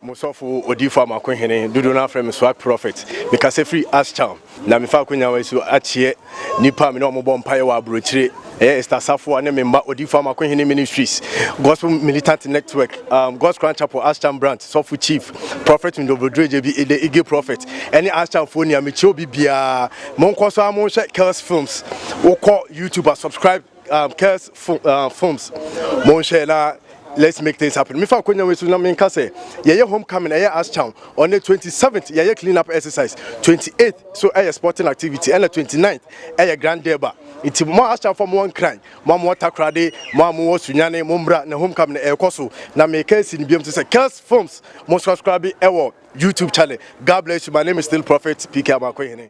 Mo sɔfo odiyifo Amako Hene, dodow no ara frɛ me Swag Prophet. Mekasa firi Ashtown, na mefa akonyawa yi so akyia nnipa a me ne wɔn bɔ mpaeɛ wɔ aburokyire. Ɛyɛ Esther Safoa ne me mma Odiyifo Amako Hene Ministries, Gospel Militant Network, um, God's Crown Chapel, Ashtown Branch, Sɔfo Chief, Prophet Ndobodreje bi, The Eagle Prophet, ɛne Ashtownfoɔ nea mekyia obi biara. Monkɔ so ara monhwɛ Kells Films. Wokɔ YouTube a, subscribe. um, curse fo, uh, forms monhwɛ na let's make things happen mefa akonya wei so na menka sɛ yɛyɛ homecoming ɛyɛ astown on the 27th yɛyɛ clean up exercise 28th so ɛyɛ sporting activity ɛna 29th ɛyɛ grand derba nti mo astown fo mo nkran mo a mo takorade mo a mo wɔ sunyane mo mbra na homecoming ɛkɔ so na meka si no biam te sɛ curse forms mo subscribe ɛwɔ youtube channel god bless you my name is still prophet pk amakohene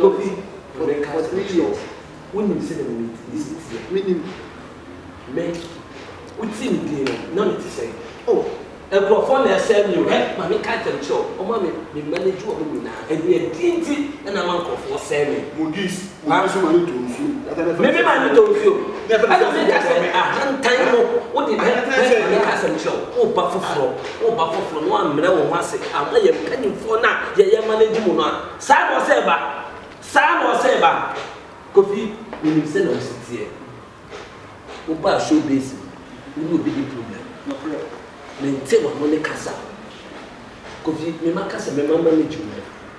Kofi, mebɛka akyerɛ wo sɛ, wonim sɛdeɛ me me me si teɛ? Menim. Me, wote me din no, na mete sɛn? Oh, nkurɔfoɔ na ɛsɛe me o. Hwɛ, ma menka ntɛm nkyerɛ wo, wɔn a me me manage wɔn nyinaa, ɛdeɛn din nti na ama nkurɔfoɔ sɛe me? Modis. Nanso ma no tɔ nsuo. Meme ma no tɔ nsuo. Ɛna meka sɛ, Ahantan no, wode dɛn na meka asɛm kyerɛ wo? Woba foforɔ, woba foforɔ na woammrɛ wo ho ase amma yɛn mpanimfoɔ no a yɛyɛ manage mo no a. Saa na ɔsɛ ba. Saa na ɔsɛ ba. Kofi, menim sɛdeɛ wo se teɛ. Wobaa show base mu, wo ne obi di problem. Nokorɛ. Mente w'ano ne kasa. Kofi, mema ka sɛ mema manage wo.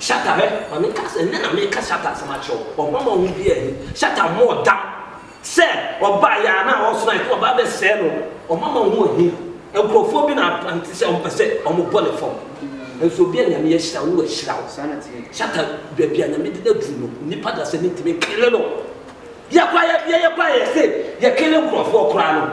Shatta hwɛ ma me nka sɛ nnɛ na meka Shatta asɛm akyerɛ wo ɔba ma wo biaa ni Shatta mmɔɔ dam sɛ ɔba yɛ a na ɔɔsena ɛka ɔba bɛ sɛɛ no ɔma ma ho ohia nkurɔfoɔ bi na apante sɛ ɔmpɛ sɛ ɔmo bɔ ne fam nso obia nyame ahyira wo ahyira wo Shatta baabi a nyame de no aduru no nnipa da sɛ mentumi nkele no yɛkɔ a yɛkɔ a yɛse yɛkele nkurɔfoɔ koraa no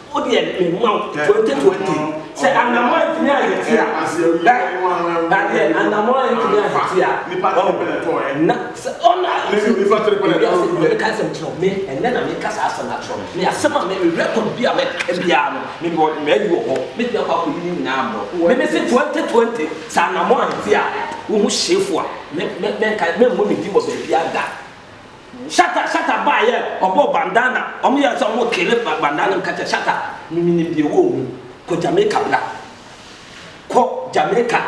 Wo deɛ me ma wo twenty twenty sɛ anamɔ antumi ayɛ ti a na na deɛ anamɔ antumi ayɛ ti a ɔn na sɛ ɔna ti ebi ase ɛbɛ ka asɛm kyerɛ me ɛnɛ na me ka saa asɛm akyerɛ me me asɛm a me record bi a me ka biara no me bɔ me ayi wɔ hɔ me tumi akɔ akɔ yi ne nyinaa mbrɔ me me se twenty twenty sɛ anamɔ ayɛ ti a wo ho hyefo a me me me nka me mmɔ ne din wɔ baabi ada Shatta shatta baa yɛ ɔbɔɔ bandana ɔmo yɛ sɛ ɔmo kele bandana no meka kyɛ shatta me menim deɛ ɛwɔ ɔmu kɔ Jamaica bra kɔ Jamaica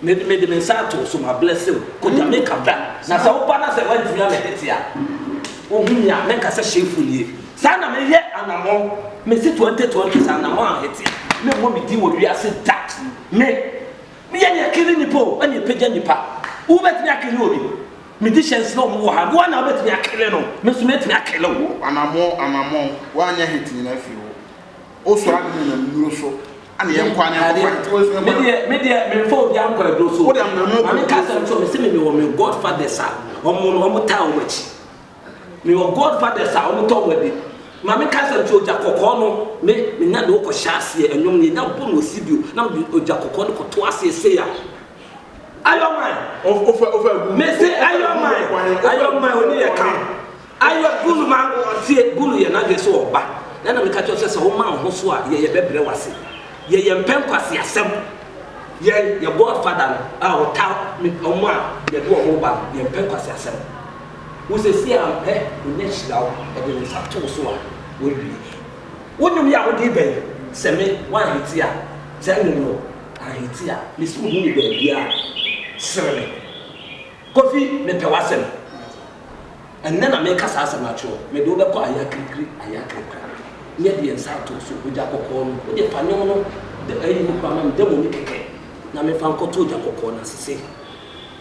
me me de me nsa ato so ma blessing wo kɔ Jamaica bra na sɛ woba na sɛ wantumi amɛdɛte a wohu me a mɛka sɛ hyɛfo nie saa na meyɛ anamɔn mesi 2020 sɛ anamɔn ahete a me mmɔ me din wɔ wiase da me meyɛ ne ɛkele nipa o ɛne ɛpɛgya nipa wobɛtumi akele obi Me di chance na ɔmo wɔ ha. Woa na wobɛtumi akele no. Me nso mɛtumi akele wo. Anamɔn anamɔn woanyɛ hit nyina firi wo wo sɔre ade nyina nnuro so ɛne yɛn kɔ anɛ nkɔ kɔ. Me deɛ me deɛ me nfa obia nkɔ aduro so ma me ka sɛm kyerɛ me se me me wɔ me God fathers a ɔmo no ɔmo taa ɔmo akyi me wɔ God fathers a ɔmo tɔ ɔmo adi ma me ka sɛm kyerɛ ogya kɔkɔɔ no me me nya de wo kɔ hyɛ aseɛ ɛnwom no yɛ nya bɔ no wɔ studio na me de ogya kɔkɔɔ no kɔ to aseɛ sei a. ayɔman mese ayɔman ayɔman oni yɛ kan ayɔ bunu ma ɔtie bunu yɛ n'adwene so ɔba na na meka kyerɛ sɛ sɛ woma wo ho so a yɛyɛ bɛbrɛ wase yɛyɛ mpɛ nkwase asɛm yɛn yɛbɔ afada no a ɔta ɔmo a yɛde ɔmo ba no yɛn mpɛ nkwase asɛm wo sɛ si a mpɛ onya hyira wo ɔde ne nsa to so a wɔawie wo nnwom yɛ a wode bɛn sɛ me wanhete a sɛ nnwom no Ahiti a mese wo hu me baabiaa sere me Kofi mepɛ w'asɛm Ɛnnɛ na meka saa asɛm akyerɛ wo Mede wo bɛkɔ Ayakirikiri Ayakirikra Nyɛ deɛ nsa atoo so Ogya kɔkɔɔ no Wodeɛ fa nwom no Ayi no koraa ma me Dɛm omi kɛkɛ Na memfa nkɔto ogya kɔkɔɔ no ase Sei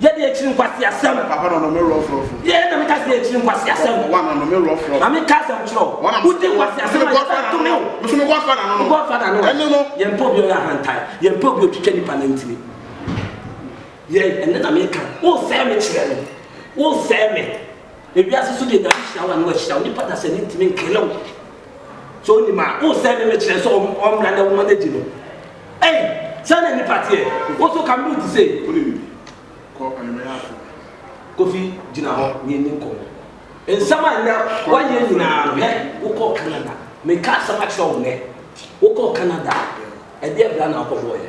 Yɛ deɛ akyiri nkwaseasɛm. Papa na ɔnome rɔfrɔfo. Yɛ na meka sɛ akyiri nkwaseasɛm. Wa na ɔnome rɔfrɔfo. Maame ka asɛm kyerɛ o. Wodi nkwaseasɛm a yɛbɛ tome o. Meso me godfather na no. Godfather no. Ɛne no. Yɛn pɛ obi ɔyɛ ahantan. Yɛn pɛ obi otwitwa nipa nan tiri. Yɛn ɛne na meka. Wo sɛɛ me kyerɛ me. Wo sɛɛ me. Ewiase so deɛ nyame hyira wo a ne wa hyira wo. Nipa dasani ntimi nkele wo. So wonim a, wosɛe no no kyerɛ sɛ ɔmmra na woma no adi no. Ei, saa na nnipa teɛ. Wo nso ka Lutu se. Wone no bi. Kɔ anwummerɛ ha kɔ. Kofi, gyina hɔ na yɛnni nkɔmmɔ. Nsɛm a nnɛ woayɛ nyinaa no, hɛ, wokɔɔ Canada. Mekaa asɛm akyerɛ wo nnɛ. Wokɔɔ Canada. Ɛdeɛn bra na wokɔbɔeɛ?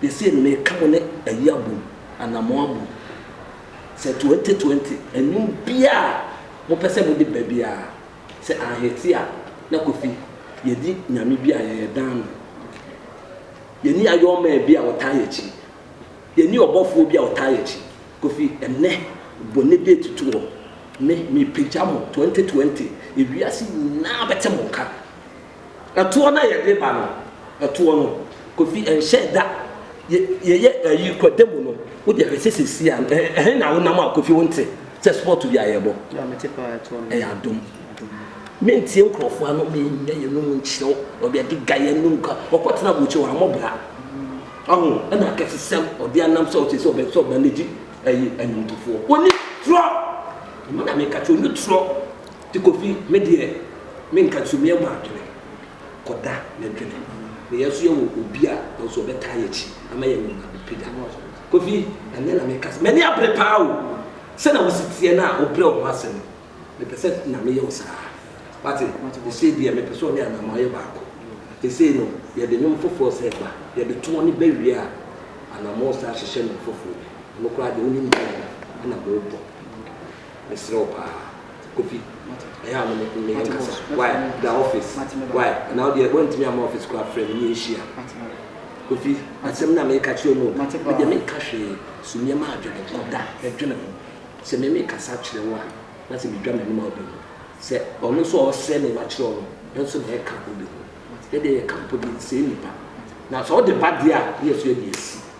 De sei no meka mo ne ayi abom anaa mo abom sɛ twenty twenty nnwom biaa a mo pɛ sɛ mo de ba biaa sɛ anhete a na Kofi yɛdi Nyame bi a yɛyɛ dan no yɛni Ayɔɔ man bi a ɔtaa yɛkyi yɛni ɔbɔfoɔ bi a ɔtaa yɛkyi Kofi ɛnɛ bɔ ne date to hɔ me me pagya mo twenty twenty ewiase nyinaa bɛte mo nka. Ɛtoɔ no a yɛde ba no, ɛtoɔ no, Kofi, ɛnhyɛɛ da. Yɛ, yɛyɛ ayi kɔ da mu no, wo deɛ hwɛ sɛ seesei a, ɛ, ɛhe na wonam a, Kofi, wonte sɛ spɔɔto bi a yɛrebɔ? Yɛ a mete paa, ɛtoɔ no. Ɛyɛ adom. Mentie nkorɔfoɔ ano, mennya yɛnum nkyerɛ wo, ɔde ade ga yɛnum ka, ɔkɔtena aburokyire hɔ, wammɔ bra. Ɔho, ɛna akɛsesɛm, ɔde anam sɛ ɔte sɛ ɔbɛ, sɛ ɔbɛnegye ayi, anwomtofoɔ. Ɔnni torɔ! Ɛno na meka kyerɛ wo, ɔnni torɔ. Ti Kofi, me deɛ me nka nso me mmɔ adwene kɔ da me dwene ne yɛn nso yɛ wɔ obi a yɛn nso ɔbɛ taa yɛ kyi ama yɛ nneɛma abɛ pagya Kofi anyɛ na me ka sɛ m'ani abere paa o sɛ na wo si teɛ na wo brɛ wo ho ase no me pɛ sɛ Nyame yɛ wo saa wate ɛsei deɛ me pɛ sɛ ɔne Anaamoah yɛ baako ɛsei no yɛ de nwom foforɔ sɛ ba yɛ de to ɔne bɛ wie a Anaamoah san hyehyɛ nwom foforɔ bi ɔno koraa deɛ wo nim deɛ ɛna mo bɔ. Mesrɛ wo paa Kofi ɛyɛ a mene mene yɛn kasa why bra office why anaa wodeɛ woantumi amma office koraa frɛ me ne yɛn hyia Kofi asɛm no a meka kyerɛ mu no medeɛ menka hwee so nneɛma adwene nkɔ da ɛdwene ho sɛ me mekasa kyerɛ wo a na sɛ medwa m'anim a wobɛhu sɛ ɔno nso a ɔsrɛ me makyerɛ wo no nso na ɛka ho wobɛhu yɛdeɛ yɛka mpo deɛ ɛnsɛe nnipa na sɛ wode ba deɛ a ne yɛso yɛde asi